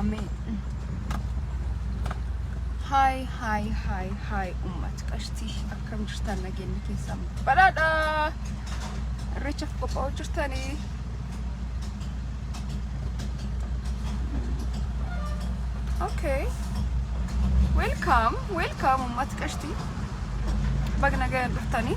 Ameen. Haay haay haay haay uummata qashtii akkam jirtan nageenyi keessan badhaadha. Irreechaaf qophaa'uu jirtanii. Okay. Welcome, welcome uummata qashtii. Baga nagayaan dhuftanii.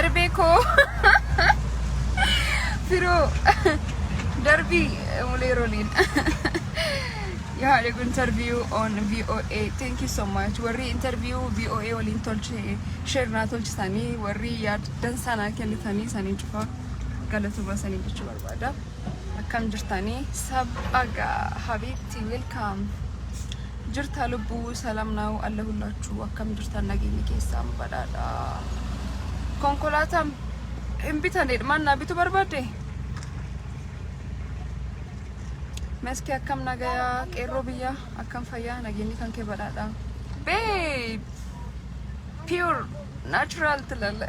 Erbee koo firoo darbii mulee roliin you had a good interview on VOA thank you so much warri interview VOA waliin tolche share naa tolchisanii warri yaaddan sanaa kennitanii sanii cufa galatuma sanii jechuu barbaada. Akkam jirtanii sab aga habiibti welcome jirta lubbuu salam naawu alla hullaachuu akkam jirtan nageenyi keessaan badhaadha konkolaataan hin bitane dhmaan naa bitu barbaadde meski akkam nagayaa qeerroo biyya akkam fayyaa nageenyi kan kee badhaadha babe pure natural tilale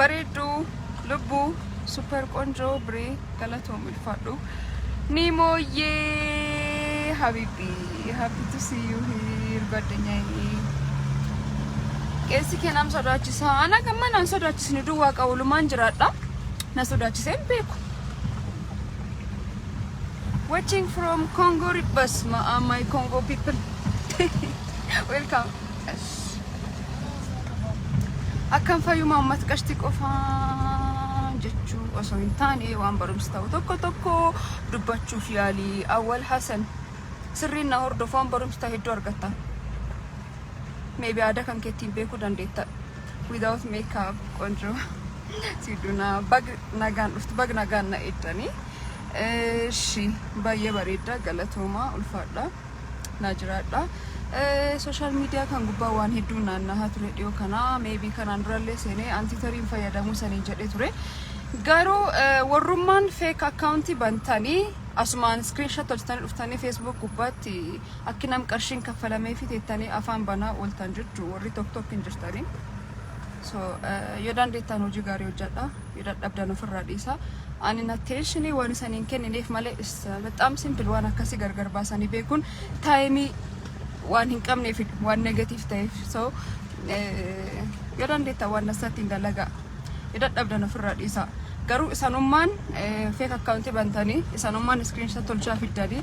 bareedduu lubbuu super qonjoo biree galatoom ulfaadhu ni mooyyee habibi happy to see you here ጓደኛዬ keessi keenam sodaachisa ana gamma naan sodaachisne duwwaa qawulumaan jiraadha na sodaachisee hin beeku watching from Congo Ribbas my Congo people welcome Akkam fayyuma ummata qashti qofa jechuu osoo hin taane waan barumsa ta'u tokko tokko dubbachuuf yaalii awwal hasan sirriin na hordofu waan barumsa ta'e hedduu argatta. Maybe aadaa kan keettiin beekuu dandeetta. Without makeup qonjoo siidunaa bag nagaan dhuftu bag nagaan na eeddanii. Eeshi baay'ee bareedda galatoomaa ulfaadha. naa jiraadha. Sooshaal miidiyaa kan gubbaa waan hedduun naannahaa ture dhiyoo kana meebii kanaan durallee seenee antiitariin fayyadamuu saniin jedhee ture. Garuu warrummaan feek akkaawuntii bantanii asumaan iskiriinshat tolchitanii dhuftanii feesbuuk gubbaatti akki nam qarshiin kaffalamee fi teettanii afaan banaa ooltan jechuun warri tokko tokko hin jirtanii. So yoo dandeettaan hojii gaarii hojjedha. Yoo dadhabdan ofirraa dhiisaa. An in attention waan isan hin kennineef malee is bexaam simple waan akkasii gargar baasanii beekuun taayimii waan hin qabneef waan negatiif ta'eef so yoo dandeettan waan dansatti hin dalagaa. Yoo dadhabdan ofirraa dhiisaa. Garuu isanummaan feek akkaawuntii bantanii isanummaan iskiriinshaa tolchaa fiddanii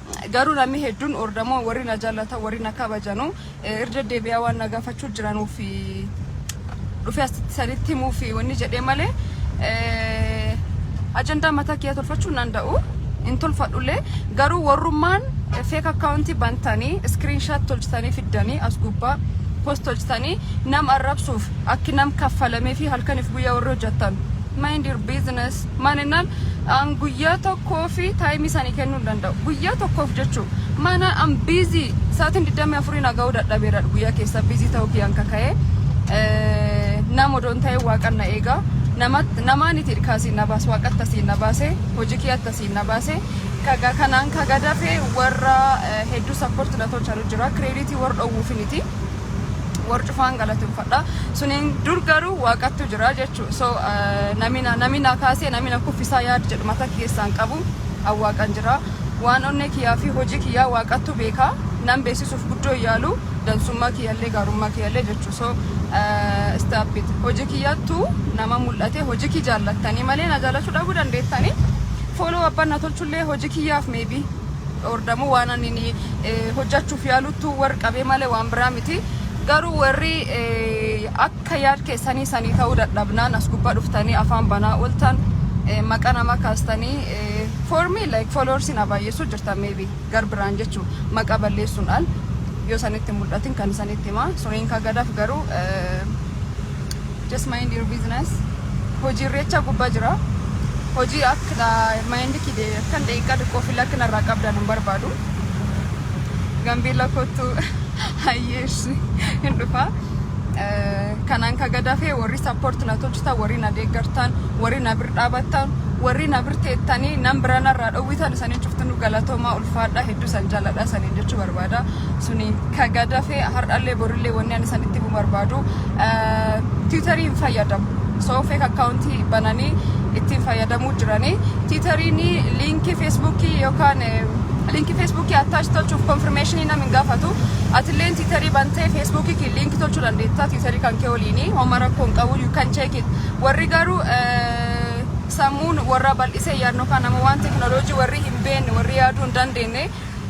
Garuu namni hedduun ordamoo warri na jallatan warri na kabajanu irra deddeebi'aa waan na gaafachuu jiranuuf dhufee asitti sanitti himuuf wanni jedhee malee ajandaa mataa kiyyaa tolfachuu nan da'u hin tolfadhullee garuu warrummaan feek akkaawuntii bantanii iskiriinshaat tolchitanii fiddanii as gubbaa post tolchitanii nam arrabsuuf akki nam kaffalamee fi halkaniif guyyaa warri hojjettan mind your business Maanennaan an guyyaa tokkoofi time isaanii kennuu hin danda'u. Guyyaa tokkoof jechuu maana an busy sa'aatiin 24 na ga'uu dadhabeera guyyaa keessa busy ta'uu kiyyaan kaka'ee nama odoo hin ta'in waaqan na eega. Namat- Namaan itti irkaasiin na baase waaqatti asiin na baase hojii kiyyatti asiin na baase kaga kanaan kaga dafee warra eh, hedduu support na tolchanu jira credit warra dhowwuufiniti. war cufaan galateeffadha suniin dur garuu waaqattu jira jechuu so namina namina kaasee namina kuffisaa yaad jedhu mata keessaan qabu awwaaqan jira waan onnee kiyyaa fi hojii kiyyaa waaqattu beekaa nan beeksisuuf guddoo yaalu dansummaa kiyyallee gaarummaa kiyyallee jechuu so istaapit hojii kiyyattu nama mul'ate hojii kii jaallattanii malee na jaallachuu dhabuu dandeettanii fooloo abbaan na tolchullee hojii kiyyaaf meebii ordamuu waan ani hojjachuuf yaalu tu war qabee malee waan biraa miti garuu warri akka yaad keessanii sanii ta'uu dadhabnaan as gubbaa dhuftanii afaan banaa ooltan maqa nama kaastanii for me like followers na baay'eessuu jirtan maybe gar biraan jechuu maqa balleessuun al yoo sanitti mul'atin kan isanitti himaa suniin kagadaaf garuu Just mind your business. Hojii irreechaa gubbaa jira. Hojii akka mind kide kan daqiiqaa xiqqoo fi lakkina irraa qabdan hin barbaadu. Gambeella kottu hayyeessi hin dhufa. Eh, Kanaan ka gadafee warri support na tolchitan, warri na deeggartan, warri na bir dhaabattan, warri na bir teettanii nan bira narraa dhowwitan isanin cuftinuu galatoomaa ulfaadha hedduu san jaaladha isanin jechuu barbaada. suni ka gadafe har'allee borillee wanni ani san itti himu barbaadu tiwutarii hin fayyadamu so feek akkaawuntii bananii ittiin fayyadamuu jiranii tiwutariin liinkii feesbuukii yookaan liinkii feesbuukii attaachi tolchuuf konfirmeeshinii nam hin gaafatu atilleen tiwutarii bantee feesbuukii kee liinkii tolchuu dandeetta tiwutarii kan kee waliinii homa rakkoo hin qabu you can check it warri garuu sammuun warra bal'isee yaadnu kan nama waan tekinooloojii warri hin beekne warri yaaduu hin dandeenye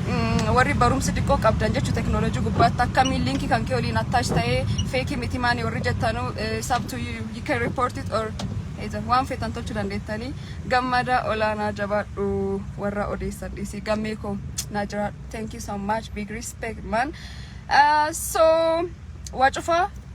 Mm, warri barumsi xiqqoo qabdan jechu teknolojii gubbaatti akkamiin linkii kan kee waliin attach ta'ee feekii miti maani warri jettanu eh, sub to you, you can report it or either. waan feetan tolchu dandeettanii gammada olaanaa jabaadhu warra odeessan dhiisii gammee koo naa jiraadhu thank you so much big respect man uh, so waa cufaa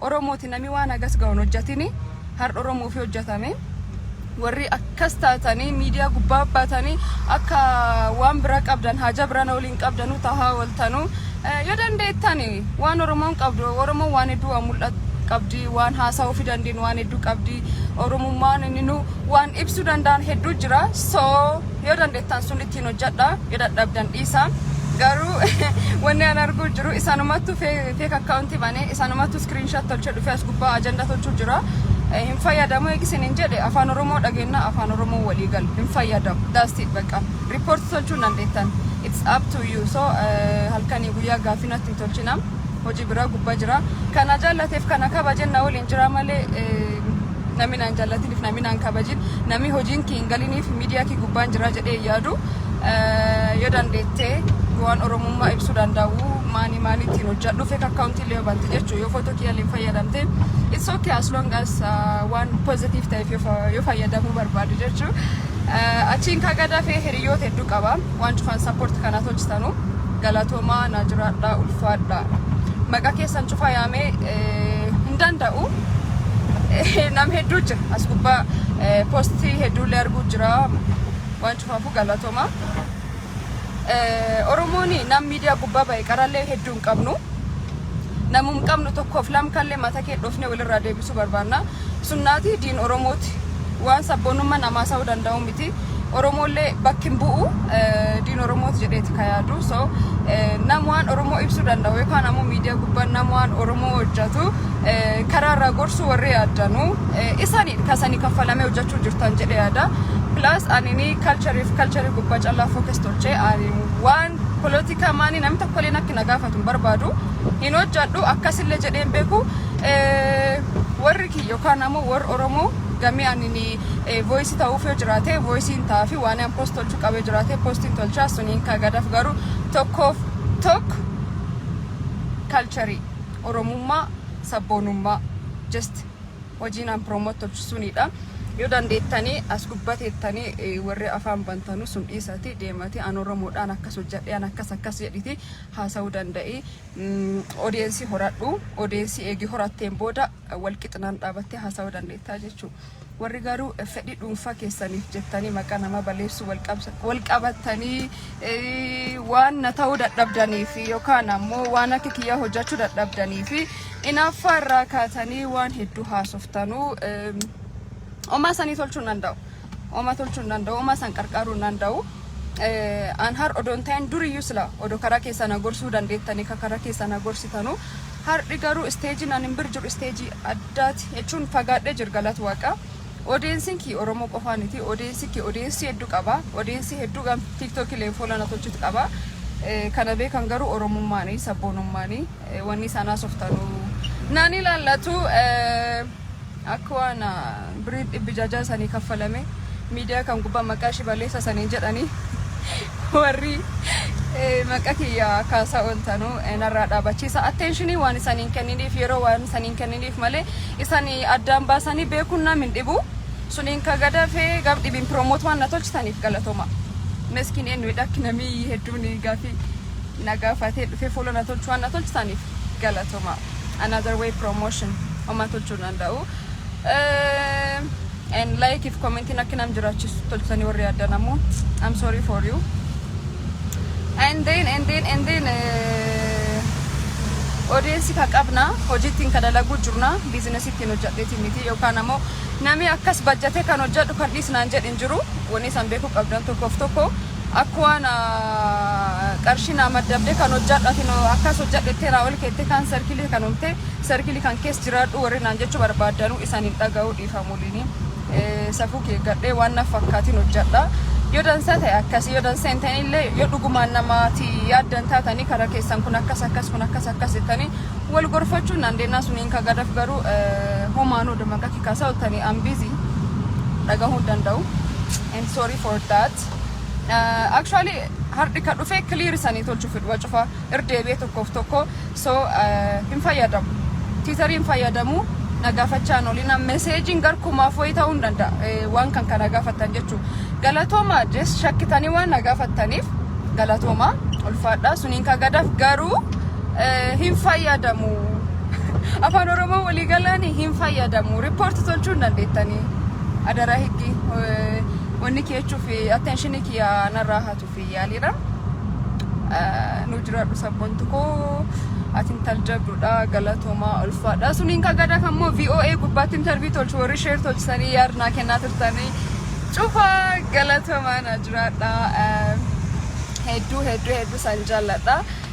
Oromoti nami waan hagas gahu hin hojjatini hardha oromofi hojjatame warri akkas taatani miidiyaa gubbaa baatani akka waan bira qabdan haaja birana waliin qabdanu tahaa oltanu yo dandeettani waan oromoon qabdu oromoon waan hedduu waan mul'at qabdi waan haasa'uufi dandeenyu waan hedduu qabdi oromummaan inni nu waan ibsu danda'an hedduu jira so Yoo dandeettan sun ittiin hojjedha. Yoo dadhabdan dhiisa. Garuu wanni an arguu jiru isanumattu feek akkaawuntii bane isanumattu screenshot tolchee dhufee as gubbaa ajanda tolchuu jira. Eh, Hin fayyadamu eegi isin hin jedhe afaan oromoo dhageennaa afaan oromoo walii galu hin fayyadamu. That's it bakka. Report tolchuu hin dandeettan. It's up to you. So eh, halkanii guyyaa gaaffii natti hin tolchina. Hojii biraa gubbaa jira. Kana jaallateef kana kabajen na waliin jira malee eh, Nami naan jaallatiniif nami naan kabajin nami hojiin kii hin galiniif miidiyaa kii gubbaan jiraa jedhee hin yaadu yoo dandeettee waan oromummaa ibsuu danda'u maanii maanii ittiin hojjadhu fake account illee bante jechuu yoo foto kiyya illee fayyadamte it's okay as long as waan positive ta'eef yoo fayyadamuu barbaadu jechuu achiin kaa gadaa fee hiriyoota hedduu qaba waan cufaan support kanaa tolchitanu galatoomaa naa jiraadhaa ulfaadhaa maqaa keessan cufaa yaamee hin danda'u. Nam hedduu jira as gubbaa poostii hedduullee arguu jira waan cufaafuu galatoma. Oromoon nam miidiyaa gubbaa ba'e qarallee hedduu hin qabnu. Namum hin qabnu tokkoof lam kallee mata kee dhoofnee walirraa deebisuu barbaanna. Sunnaati diin Oromooti. Waan sabboonummaan namaa sa'uu danda'u miti. Oromoollee bakki hin bu'u diin Oromooti jedheeti ka yaadu. So nam waan Oromoo ibsuu danda'u yookaan ammoo miidiyaa gubbaan nam waan Oromoo hojjetu karaa irraa gorsuu warri yaaddanu isaaniidha kasanii kaffalamee hojjechuu jirtan jedhe yaada. Plus anini culture fi culture gubbaa callaa focus tolchee ani waan polotikaa maanii namni tokkollee nakki na gaafatu hin barbaadu hin hojjedhu akkasillee jedheen beeku warri kiyya yookaan ammoo warri Oromoo gamee ani voice ta'uuf yoo jiraate voice hin ta'a fi waan an post tolchuu qabee jiraate post hin tolchaa suniin ka gadaf garuu tokkoof tokko kalcharii oromummaa sabboonummaa just hojiin an promote tolchu suniidha yoo dandeettanii as gubbateettanii eh, warri afaan bantanu sun dhiisati deemati an oromoodhaan akkas hojjadhe an akkas akkas jedhiti haasa'uu danda'i Mm, odeensii horadhu odeensii eegi horatteen booda walqixinaan dhaabattee haasawuu dandeettaa jechuu warri garuu fedhii dhuunfaa keessaniif jettanii maqaa namaa baleessuu walqabattanii waan na ta'uu dadhabdanii fi yookaan ammoo waan akka kiyyaa hojjechuu dadhabdanii fi inaaffaa irraa kaatanii waan hedduu haasoftanuu omaa sanii tolchuu danda'u. Oma tolchuu hin danda'u, oma san qarqaaruu hin danda'u. An har odoo hin ta'in duriyyuu sila odoo karaa keessaa na gorsuu dandeettanii ka karaa keessaa na gorsitanu. Har'i garuu isteejiin an hin bir jiru isteejii addaati jechuun fagaadhee jir galata waaqa. Odeensiin kii Oromoo qofaa miti. Odeensi kii odeensii hedduu qaba. Odeensii hedduu gam tiiktookii leen fuula na tolchuutu qaba. Kana beekan garuu Oromummaanii sabboonummaanii wanni isaan haasoftanuu naan ilaallatu. Akka waan birii dhibbi jajaa sanii kaffalame miidiyaa kan gubbaa maqaa ishii baleessa saniin jedhanii warri maqa kiyya kaasaa ooltanu narraa dhaabachiisa attenshinii waan isaniin kenniniif yeroo waan isaniin kenniniif malee isani addaan baasanii beekuun nam hin dhibu suniin ka gadafee gaf dhibiin piroomoot waan na tolchitaniif galatoma meskiin eenyu dhakki namii hedduun gaafii na gaafatee dhufee fuula na tolchu waan na tolchitaniif galatoma. another way promotion homaa tolchuu danda'u Eh, and like if commentiin akka nam jiraachisu tolchisanii warri addan ammoo I'm sorry for you and then and then and then eh, odeessi ka qabna hojiittiin ka dalaguu jirna biizinasiittiin hojjadheetiin miti yookaan ammoo namni akkas bajjatee kan hojjadhu kan dhiisnaan jedhin jiru wanni isaan beekuu qabdan tokkoof tokko Akka waan qarshii naa maddabde kan hojjadhu ati akkas hojjadhu jettee raawal keettee kaan sarkilii kan umte sarkilii kan kees jiraadhu warri naan jechuu barbaaddanuu isan hin dhaga'u dhiifamuliini safuu kee gadhee waan naf fakkaatiin hojjadha yoo dansaa ta'e akkasi yoo dansaa hin ta'in illee yoo dhugumaan namaati yaaddan taatanii kara keessan kun akkas akkas kun akkas akkas jettanii wal gorfachuu naan deennaa sun hin kagadaf garuu homaanuu damaqa kikaasaa oltanii ambizii dhagahuu hin danda'u and sorry for that Art. Uh, actually hardhi ka dhufee clear isanii tolchu fidwa cufa irdeebee tokkoof tokko so uh, hin fayyadamu tiitarii hin fayyadamu na gaafachaa nolina meseejiin garkumaaf wayii ta'uu hin danda'a eh, waan kan kana gaafattan jechuu galatooma jes shakkitanii waan na gaafattaniif galatooma ulfaadhaa suniin ka gadaaf garuu eh, hin fayyadamu afaan oromoo walii galaanii hin fayyadamu riippoorti tolchuu hin dandeettanii adara higgi eh, Wanni keechuuf attention kiyya narraa hatuuf yaaliidha. Nu jiraadhu sabbontu koo ati intal jabduudha galatoomaa ulfaadha. Suniin kan gada kan immoo VOA gubbaatti interview tolchu warri share tolchisanii yaad naa kennaa turtanii cufa galatoomaa na jiraadha. Hedduu hedduu hedduu san jaalladha.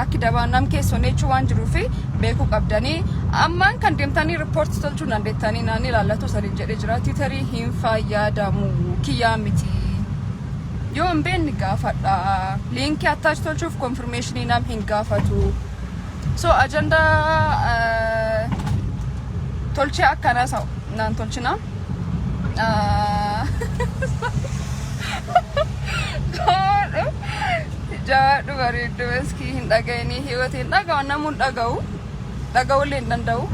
Akki dabaa nam keessoo neechuu waan jiruu fi beekuu qabdanii ammaan kan deemtanii riippoorti tolchuu dandeettanii naan ilaallatu saniin jedhee jira tiitarii hin fayyadamu kiyyaa miti yoo hin beekne gaafadha liinkii attaachi tolchuuf konfirmeeshinii nam hin gaafatu so ajandaa tolchee akkanaa sa'u naan tolchina Jabaadhu bareeddu maskii hin dhaga'inii hiwati hin dhaga'u namuu hin dhaga'u dhaga'ullee hin danda'u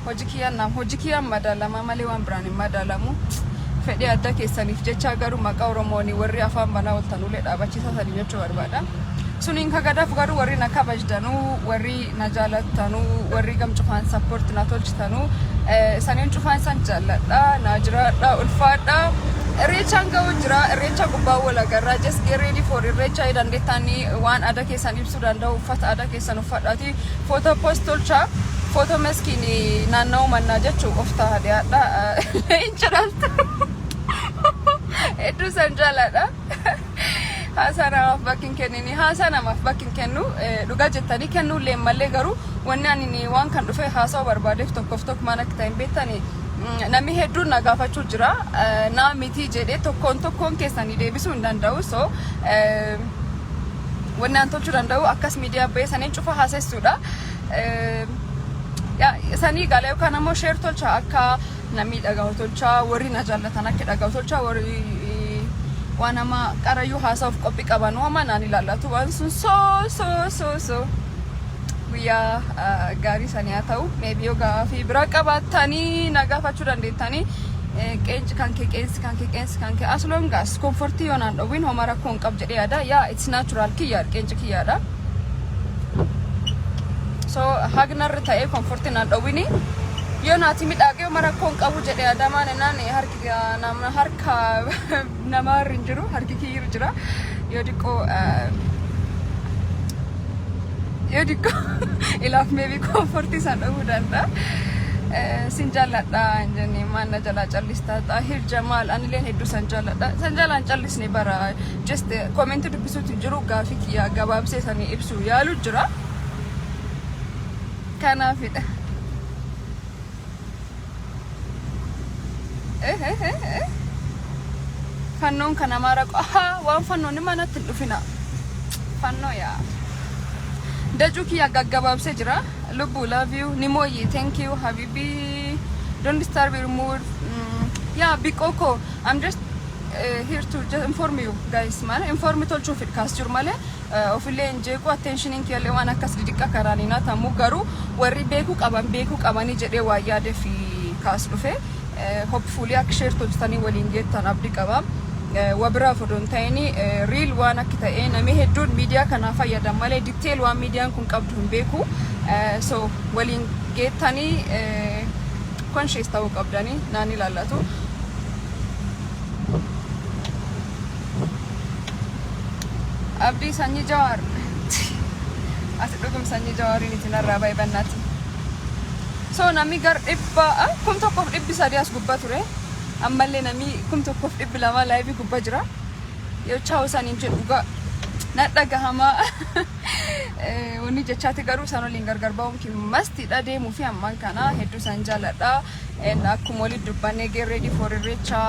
hojii kiyyaan nam hojii kiyyaan madaalama malee waan biraan hin madaalamu fedhii adda keessaniif jechaa garuu maqaa oromooni warri afaan banaa oltanuulee dhaabachiisaa sanii jechuu barbaada suniin kagadaaf garuu warri na kabajdanuu warri na jaalattanu warri gam cufaan support na tolchitanu isaniin cufaan isan jaalladha na jiraadha ulfaadha irreechaan ga'u jira irreecha gubbaa walagarraa just get ready for irreecha yoo dandeettaani waan aadaa keessan ibsuu danda'u uffata aadaa keessan uffadhaati footoo post tolcha footoo maskiin naanna'u mannaa jechuu of ta'a dhiyaadha hin jedhamtu hedduu san jaalladha. Haasaa namaaf bakki hin kennini. Haasaa namaaf bakki hin kennu. Dhugaa jettanii kennuullee hin mallee garuu wanni ani waan kan dhufee haasa'uu barbaadeef tokkoof tokko maal akka ta'e hin beektani. Namni hedduun na gaafachuu jira. Naa mitii jedhee tokkoon tokkoon keessanii deebisuu hin danda'u. So wanni an tolchuu danda'u akkas miidiyaa bahee saniin cufa haasessuudha. Sanii gaala yookaan ammoo sheer tolcha akka Namni dhagahu tolchaa warri na jaallatan akka dhagahu tolchaa warri waan amma qarayyuu haasa'uuf qophii qaban waama naan ilaallatu waan sun soo soo soo soo guyyaa ah, gaarii sanii haa ta'u meebii yoo gaafii biraa qabaattanii na gaafachuu dandeettanii Eh, qeensi kan kee qeensi kan kee qeensi kan kee as long as komfortii yoo naan dhowwin homa rakkoo hin qabu jedhee yaada yaa it's natural kiyya qeensi kiyyaadha. so hagnarra ta'ee komforti naan dhowwini yoo naati midhaaqee uma rakkoo hin qabu jedhe adamaan ennaan harki nama harka namaa irra hin jiru harki kiyyi irra jira yoo diqqoo yoo diqqoo ilaaf meebii komforti isaan dhowwuu danda'a. sin jaalladha hin jenne maal na jalaa callistaa xaahir jamaal anileen hedduu san jaalladha san jalaan callisne bara just comment dubbisuutu hin jiru gaafii kiyya gabaabsee sanii ibsu yaalu jira kanaafidha Eh, eh, eh, eh. fannoon kan amaara qo- ahaa waan fannoon ni manatti hin dhufina fannoo yaa dajuu kiyya gaggabaabsee jira lubbuu love you ni mooyyi thank you habibi don't disturb your mood mm. yaa biqoo koo i'm just here to just inform you guys maana inform tolchuuf kaas jiru malee ofillee hin jeequ attentionin kiyallee waan akkas didiqqa karaan hin hatamu garuu warri beekuu qaban beekuu qabanii jedhee waa yaade fi kaas dhufe hopefully akka share tolchitanii waliin geettan abdi qaba wabiraaf odoo hin ta'ini riil waan akki ta'ee namni hedduun miidiyaa kanaa fayyadan malee detail waan miidiyaan kun qabdu hin beeku so waliin geettanii conscious ta'uu qabdanii naan ilaallatu. Abdii sanyii jawaar. Ati dhugum sanyii jawaariin itti narraa bahe bannaatti. So namni gar dhibba ah, kum tokkoof dhibbi sadii as gubbaa ture. Ammallee namni kum tokkoof dhibbi lamaa laayivii gubbaa jira. Yoo chaa'u saniin jedhu dhugaa na dhagahamaa. Eh, Wanni jechaati garuu san waliin gargar ba'uun kimmastidha deemuu fi ammaan kana hedduu san jaaladha. and akkuma walitti dubbannee get ready for irreecha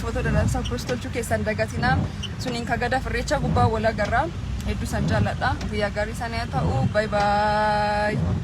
footoo dadansaa post tolchuu keessan dagatinaa suniin kagadaaf irreecha gubbaa wal agarra hedduu san jaalladha guyyaa gaarii sana yaa ta'u bye bye